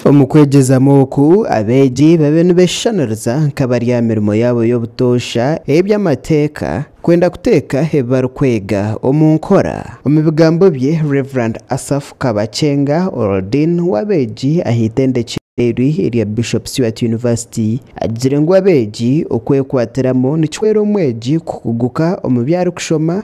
Omu kwegyezamu oku, abeegi babe nibeshushaniriza nk'abari aha mirimo yaabo y'obutoosha ey'eby'amateeka, kwenda kuteeka ebi barikwega omu nkora. Omu bigambo bye, Rev. Asaph Kabakyenga, Oral Dean w'abeegi aha itendekero eri erya Bishop Stuart University, agizire ngu abeegi okwekwatiramu nikihwera omwegi kuhuguka omu bi arikushoma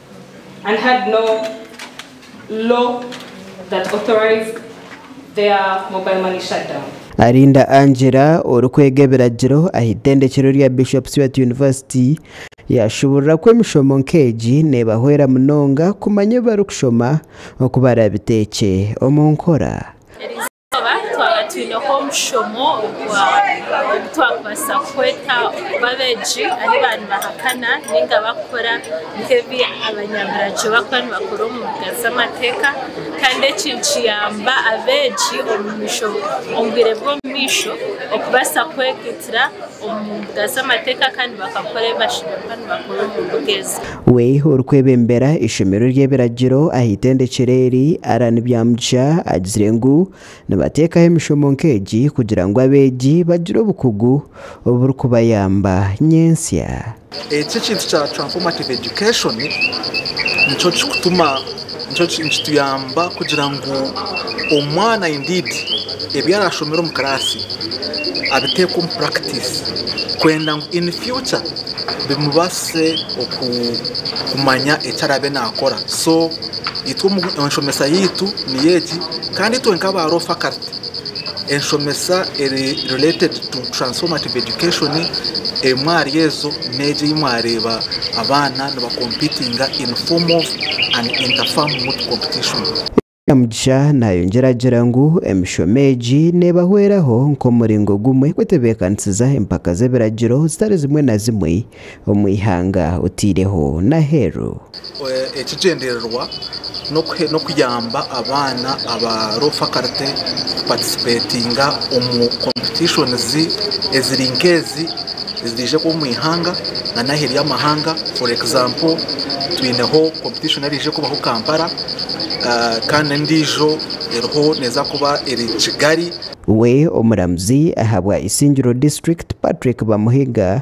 and had no law that authorized their mobile money shutdown. Arinda Angela orikwega ebiragiro aha itendekero rya Bishop's Weah University yaashuburira ku emishomo nk'egi neebahwera munonga kumanya ebi barikushoma oku baraabiteekye omu nkora. Twaba twaba twineho omushomo ogwa ogu twakubaasa kukweta okuba abeegi ahi ba nibahakana ninga bakukora nk'ebi abanyaburagyo bakuba nibakora omu mbuga z'amateeka kandi eki nikiyamba abeegi omu misho omu bwire bw'omumaisho okubaasa kwega itira omu mbuga z'amateeka kandi bakakora ebi bashemererwa nibakora omu mbuga ezo. We orikwebembera eishomero ry'ebiragiro aha itendekero eri, Allan Byamugisha agizire ngu nibateekaho emishomo nk'egi kugira ngu abeegi bagire obukugu oburikubayamba nyentsya. Eki ekintu kya transformative education nikyo kikutuma nikyo nikituyamba kugira ngu omwana indeed ebi arashomere omu class abiteeke omu practice kwenda ngu in future bimubaasise oku kumanya eki araabe naakora so itwe enshomesa yaitu niyo egi kandi itwe nk'aba role faculty Enshomesa eri related to transformative education emwe ahari ezo n'egi ei mwareeba abaana niba competinga in formal and inter fam moot competition. Kamugisha nayongyera agira ngu emishomo egi nebahweraho nk'omuringo gumwe kwetebeekanisiza empaka z'ebiragiro zitari zimwe na zimwe omu ihanga otaireho n'aheeru. Ekigyendererwa n'okuyamba abaana aba Low Faculty kupatisipeetinga omu kompitishonizi eziri nk'ezi eziraije kuba omu ihanga nari aheeru y'amahanga. For example, twineho kompitishoni eraije kubaho Kampala kandi n'endiijo eriho neeza kuba eri Kigali. We omuramuzi ahabwa Isingiro disiturikiti, Patrick Bamuhiga